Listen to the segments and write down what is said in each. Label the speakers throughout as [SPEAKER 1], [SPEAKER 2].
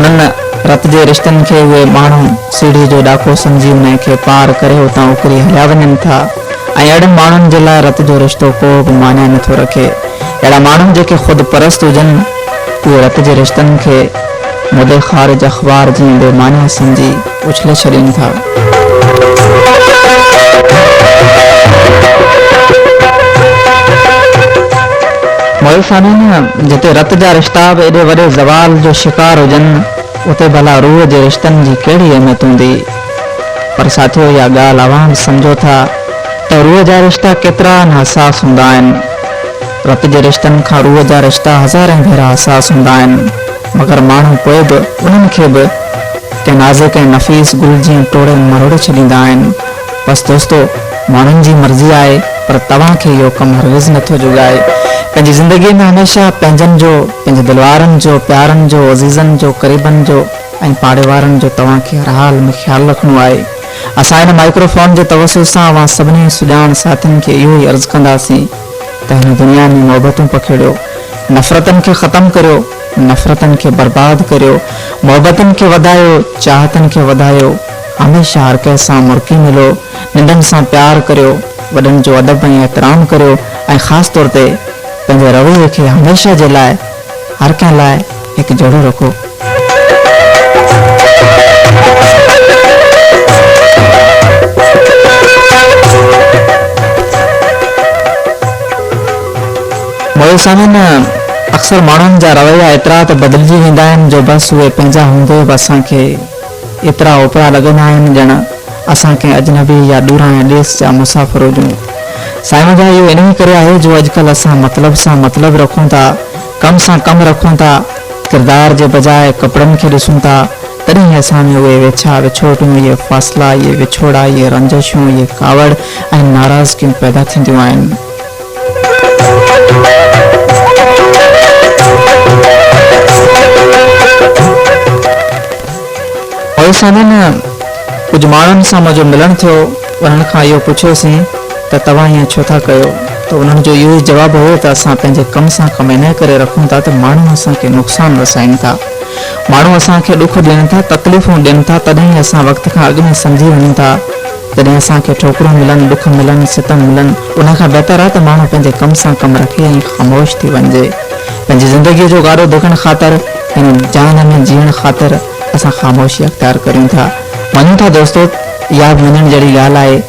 [SPEAKER 1] انهن رت جي رشتن کي اهي ماڻهو سيڙهي جو ڏاڪو سمجهي ان کي پار ڪري اتان اڪري هليا وڃن ٿا ۽ اهڙن ماڻهن جي لاء رت جو رشتو ڪو به معني نٿو رکي. اهڙا ماڻهو جيڪي خود پرست هجن اهي رت جي رشتن کي مدي خارج اخبار جيان بي معني سمجهي، اڇلي ڇڏين ٿا. مؤرخانين جتي رت جا رشتا به ايڏي وڏي زوال جو شڪار هجن اتي ڀلا روح جي رشتن جي ڪهڙي اهميت هوندي؟ پر ساٿيو اها ڳالهه اوهان به سمجهو ٿا ته روح جا رشتا ڪيترا نه حساس هوندا آهن. رت جي رشتن کان روح جا رشتا هزارين ڀيرا حساس هوندا آهن. مگر ماڻهو پوء به انهن کي به ڪنهن نازڪ ۽ نفيس گل جيان ٽوڙي مروڙي ڇڏيندا آهن. بس دوستو ماڻهن جي مرضي آهي پر توهان کي اهو ڪم هرگز نه ٿو جوڳائي. پنهنجي زندگي ۾ هميشه پنهنجن جو، پنهنجي دل وارن جو، پيارن جو، عزيزن جو، قريبن جو ۽ پاڙي وارن جو توهان کي هر حال ۾ خيال رکڻو آهي. اسان هن مائڪرو فون جي توسط سان اوهان سڀني سڄاڻ ساٿين کي اهو ئي عرض ڪنداسين. ته هن دنيا ۾ محبتون پکيڙيو، نفرتن کي ختم ڪريو، نفرتن کي برباد ڪريو، محبتن کي وڌايو، چاهتن کي وڌايو، هميشه هر ڪنهن سان مرڪي ملو، ننڍن سان پيار ڪريو، وڏن جو ادب ۽ احترام ڪريو ۽ خاص طور تي پنهنجي رويي کي هميشه جي لاء هر ڪنهن لاء هڪ جهڙو رخو. معزز سامعين اڪثر ماڻهن جا رويا ايترا ته بدلجي ويندا آهن جو بس اهي پنهنجا هوندي به اسان کي ايترا اوپرا لڳندا آهن ڄڻ اسان ڪنهن اجنبي يا ڏورانهين ڏيس جا مسافر هجون. سائينء جا اهو انهي ڪري آهي جو اڄڪلهه اسان مطلب سان مطلب رکون ٿا، ڪم سان ڪم رکون ٿا، ڪردار جي بجاء ڪپڙن کي ڏسون ٿا، تڏهن اسان ۾ اهي ويڇا وڇوٽيون، اهي فاصلا، اهي وڇوڙا، اهي رنجشون، اهي ڪاوڙ ۽ ناراضگيون پيدا ٿينديون آهن. پوء سندن ڪجهه ماڻهن سان منهنجو ملڻ ٿيو، انهن کان اهو پڇيوسين ته توهان ائين ڇو ٿا ڪيو؟ ته انهن جو اهو ئي جواب هيو ته اسان پنهنجي ڪم سان ڪم انهيء ڪري رکون ٿا ته ماڻهو اسان کي نقصان رسائين ٿا، ماڻهو اسان کي ڏک ڏين ٿا، تڪليفون ڏين ٿا، تڏهن ئي اسان وقت کان اڳ ۾ سمجهي وڃون ٿا. جڏهن اسان کي ٺوڪريون ملن، ڏک ملن، ستم ملن، ان کان بهتر آهي ته ماڻهو پنهنجي ڪم سان ڪم رکي ۽ خاموش ٿي وڃجي. پنهنجي زندگيء جو گاڏو ڌڪڻ خاطر، هن جهان ۾ جيئڻ خاطر اسان خاموشي اختيار ڪريون ٿا. وڃون ٿا دوستو، اها به وڃڻ جهڙي ڳالهه آهي،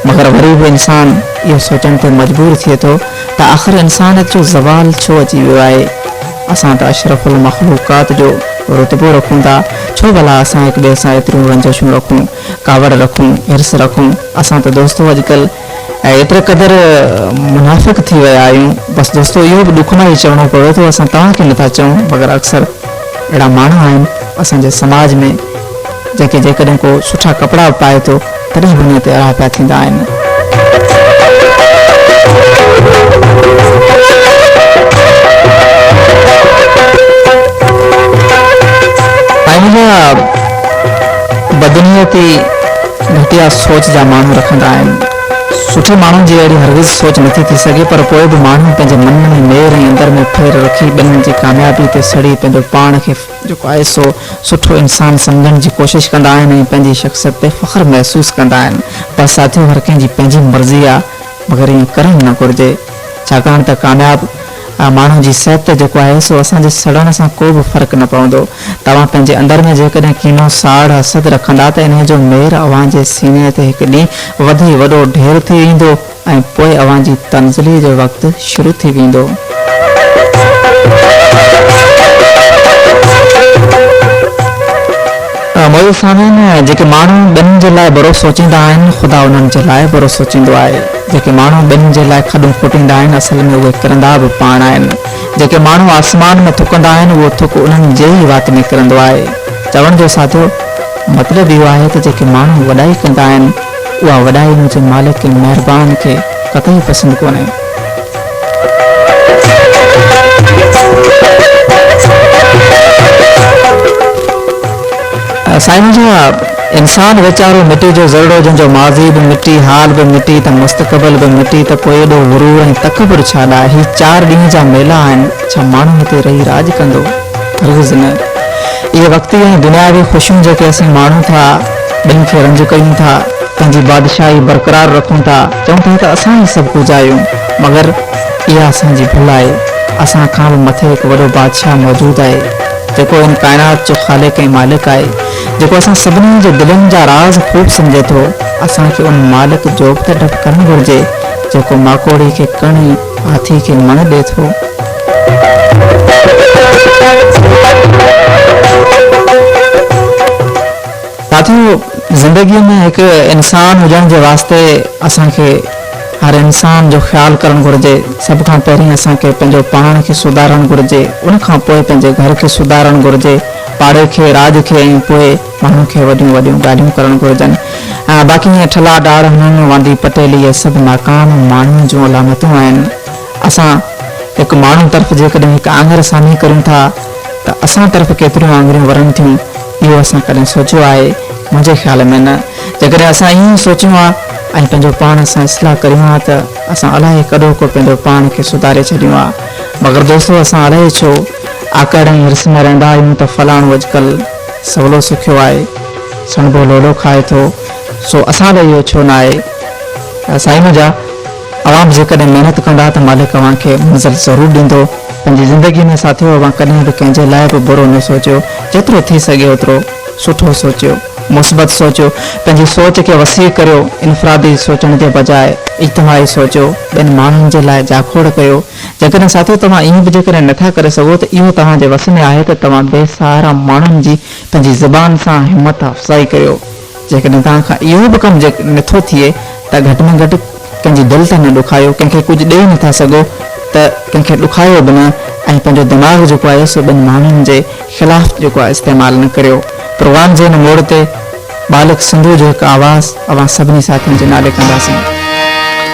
[SPEAKER 1] مگر وري به انسان اهو سوچڻ تي مجبور ٿئي ٿو ته آخر انسانيت جو زوال ڇو اچي ويو آهي؟ اسان ته اشرف المخلوقات جو رتبو رکون ٿا، ڇو ڀلا اسان هڪ ٻئي سان ايتريون رنجشون رکون؟ ڪاوڙ رکون، حرص رکون، اسان ته دوستو اڄڪلهه ايتري قدر منافق ٿي ويا آهيون، بس دوستو اهو به ڏک ناهي چوڻو پوي ٿو اسان توهان کي نٿا چئون مگر اڪثر اهڙا ماڻهو آهن اسان جي سماج ۾ جنهن کي جيڪڏهن ڪو سٺا ڪپڙا به پائي ٿو تڏهن به منهن تي اڙا پيا ٿيندا آهن. بدنيتي گهٽيا سوچ جا ماڻهو رکندا آهن. سٺي ماڻهن جي اهڙي هرگز سوچ نٿي ٿي سگهي پر پوء به ماڻهن پنهنجي من ۾ مير ۽ اندر ۾ ڦير رکي ٻين جي ڪاميابي تي سڙي پنهنجو پاڻ کي جيڪو آهي سو سٺو انسان سمجهڻ جي ڪوشش ڪندا آهن ۽ پنهنجي شخصيت تي فخر محسوس ڪندا آهن پر ساٿيو هر ڪنهن جي پنهنجي مرضي آهي مگر ائين ڪرڻ نه گهرجي ڇاڪاڻ ته ڪامياب ۽ ماڻهن جي صحت تي جيڪو آهي سو اسان جي سڙڻ سان ڪو به فرق نه پوندو. توهان پنهنجي اندر ۾ جيڪڏهن ڪينو، ساڙ، حسد رکندا ته انهيء جو مير اوهان جي سيني تي هڪ ڏينهن وڌي وڏو ڍير ٿي ويندو ۽ پوء اوهان جي تنزلي جو وقت شروع ٿي ويندو. معزز سامعين! جيڪي ماڻهو ٻين جي لاء برو سوچيندا آهن، خدا انهن جي لاء برو سوچيندو آهي. جيڪي ماڻهو ٻنين جي لاء کڏون کوٽيندا آهن، اصل ۾ اهي ڪرندا به پاڻ آهن. جيڪي ماڻهو آسمان ۾ ٿڪندا آهن، اهو ٿڪ انهن جي ئي وات ۾ ڪرندو آهي. چوڻ جو سادو مطلب اهو آهي ته جيڪي ماڻهو وڏائي ڪندا آهن، اها وڏائي منهنجي مالڪ ۽ مهربان کي قطعي پسند ڪونهي. سائين منهنجا انسان ويچارو مٽي جو ذرڙو جنهن جو ماضي به مٽي حال به مٽي ته مستقبل به مٽي ته پوء ايڏو غرور ۽ تڪبر ڇا لاء هي چار ڏينهن جا ميلا آهن ڇا ماڻهو هتي رهي راڄ ڪندو هرگز نه اهي وقتي ۽ دنياوي خوشيون جيڪي اسين ماڻون ٿا ٻين کي رنج ڪيون ٿا پنهنجي بادشاهي برقرار رکون ٿا چون ٿا ته اسان ئي سڀ ڪجهه آهيون، مگر اها اسان جي ڀل آهي. اسان کان به مٿي هڪ وڏو بادشاهه موجود آهي، جيڪو هن ڪائنات جو خالق ۽ مالڪ آهي، جيڪو اسان سڀني جي دلين جا راز خوب سمجهي ٿو. اسان کي ان مالڪ جو به ته ڊپ ڪرڻ گهرجي، جيڪو ماڪوڙي کي ڪڻ ۽ هاٿي کي مڻ ڏئي ٿو. ساٿيو زندگي ۾ هڪ انسان هجڻ جي واسطي اسان کي هر انسان جو خيال ڪرڻ گهرجي سڀ کان پهرين اسان کي پنهنجو پاڻ کي سڌارڻ گهرجي ان کان پوء پنهنجي گهر کي سڌارڻ گهرجي پاڙي کي راڄ کي ۽ پوء ماڻهن کي وڏيون وڏيون ڳالهيون ڪرڻ گهرجن باقي ائين ٺلا ڊاڙ هڻڻ واندي پٽيلي اهي سڀ ناڪام ماڻهن جون علامتون آهن اسان هڪ ماڻهو طرف جيڪڏهن هڪ آڱر سامهين ڪريون ٿا ته اسان طرف ڪيتريون آڱريون ورن ٿيون اهو اسان ڪڏهن سوچيو آهي؟ منهنجي خيال ۾ نه. جيڪڏهن اسان ائين ئي سوچيون ها ۽ پنهنجو پاڻ سان اصلاح ڪريون ها ته اسان الاهي ڪڏهو ڪو پنهنجو پاڻ کي سڌاري ڇڏيون ها. مگر دوستو اسان الاهي ڇو آڪڙ ۽ حرص ۾ رهندا آهيون ته فلاڻو اڄڪلهه سولو سکيو آهي، سڻڀو لولو کائي ٿو، سو اسان لاء اهو ڇو نه آهي؟ سائين منهنجا! اوهان جيڪڏهن محنت ڪندا ته مالڪ اوهان کي منزل ضرور ڏيندو. پنهنجي زندگي ۾ ساٿيو اوهان ڪڏهن به ڪنهن جي لاء به برو نه سوچيو جيترو ٿي سگهي اوترو سٺو سوچيو مثبت سوچيو پنهنجي سوچ کي وسيع ڪريو انفرادي سوچڻ جي بجاء اجتماعي سوچيو ٻين ماڻهن جي لاء جاکوڙ ڪيو جيڪڏهن ساٿيو توهان ائين به جيڪڏهن نه ٿا ڪري سگهو ته اهو توهان جي وس ۾ آهي ته توهان بي سهارا ماڻهن جي پنهنجي زبان سان همت افزائي ڪريو. جيڪڏهن توهان کان اهو به ڪم نٿو ٿئي ته گهٽ ۾ گهٽ ڪنهن جي دل ته نه ڏکايو، ڪنهن کي ڪجهه ڏيئي نٿا سگهو ته ڪنهن کي ڏکايو به نه ۽ پنهنجو دماغ جيڪو آهي سو ٻن ماڻهن جي خلاف جيڪو آهي استعمال نه ڪريو. پروگرام جي هن موڙ تي ٻالڪ سنڌوء جو هڪ آواز اوهان سڀني ساٿين جي نالي ڪنداسين.